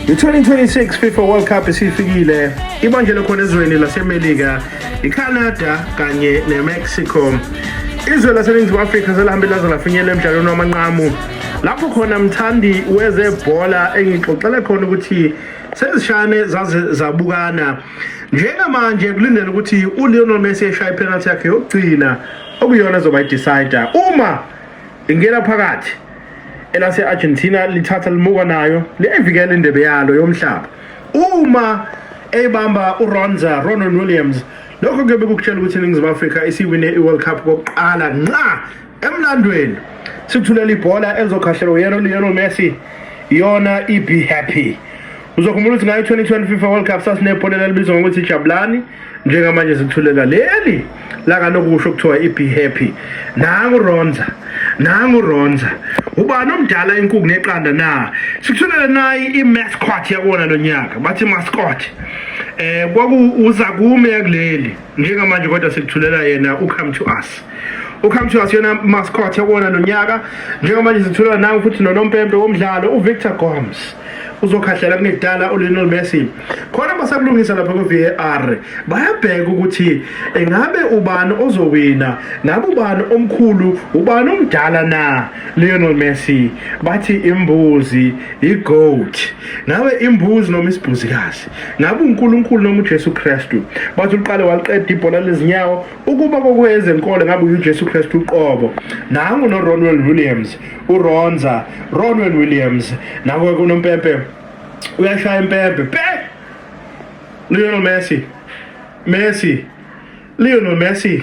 I-2026 FIFA World Cup isifikile ibanjelwe khona ezweni laseMelika, iCanada kanye neMexico. Izwe laseNingizimu Afrika selihambe laze lafinyelela emdlalweni wamanqamu lapho khona mthandi wezebhola engixoxele khona ukuthi sezishane zaze zabukana njengamanje kulindele ukuthi uLionel Messi eshaye ipenalty yakhe yokugcina okuyona ezoba idecider uma Ingena phakathi elase-Argentina lithatha limuka nayo liyayivikela indebe yalo yomhlaba uma eyibamba uRonza Ronon Williams lokho kuyobe kukutshela ukuthi iningizimu afrika isiwine i-world cup kokuqala nqa emlandweni sikuthulela ibhola elizokhahlelwa uyena ulionel messi yona ibe happy Uzokhumbula ukuthi ngayo 2020 FIFA World Cup sasinebhola elibizwa ngokuthi Jabulani njengamanje sithulela leli lakalokhu kusho kuthiwa i-be happy nangu ronza nangu ronza ubani omdala inkuku neqanda na sikuthulele nayi i-mascot yakona lo nyaka bathi mascot um eh, kwakuuzakume yakuleli njengamanje kodwa sikuthulela yena ucome to us ucome to us yona mascot yabona nonyaka njengamanje sithulela nawe futhi nonompempe womdlalo uvictor gomes uzokhahlela kunedala ulionel messi khona basakulungisa lapha ku-var bayabheka ukuthi engabe ubani ozowina ngabe ubani omkhulu ubani omdala na lionel messi bathi imbuzi i-goat ngabe imbuzi noma isibhuzikazi Ngabe uNkulunkulu noma uJesu Kristu? Bathi uqale waliqeda ibhola lezinyawo ukuba kokwezenkolo ngabe uJesu Kristu uqobo. Nangu no Ronwen Williams, uRonza, Ronwen Williams, nawe kunompempe uyashaya impempe. Pe! Lionel Messi. Messi. Lionel Messi.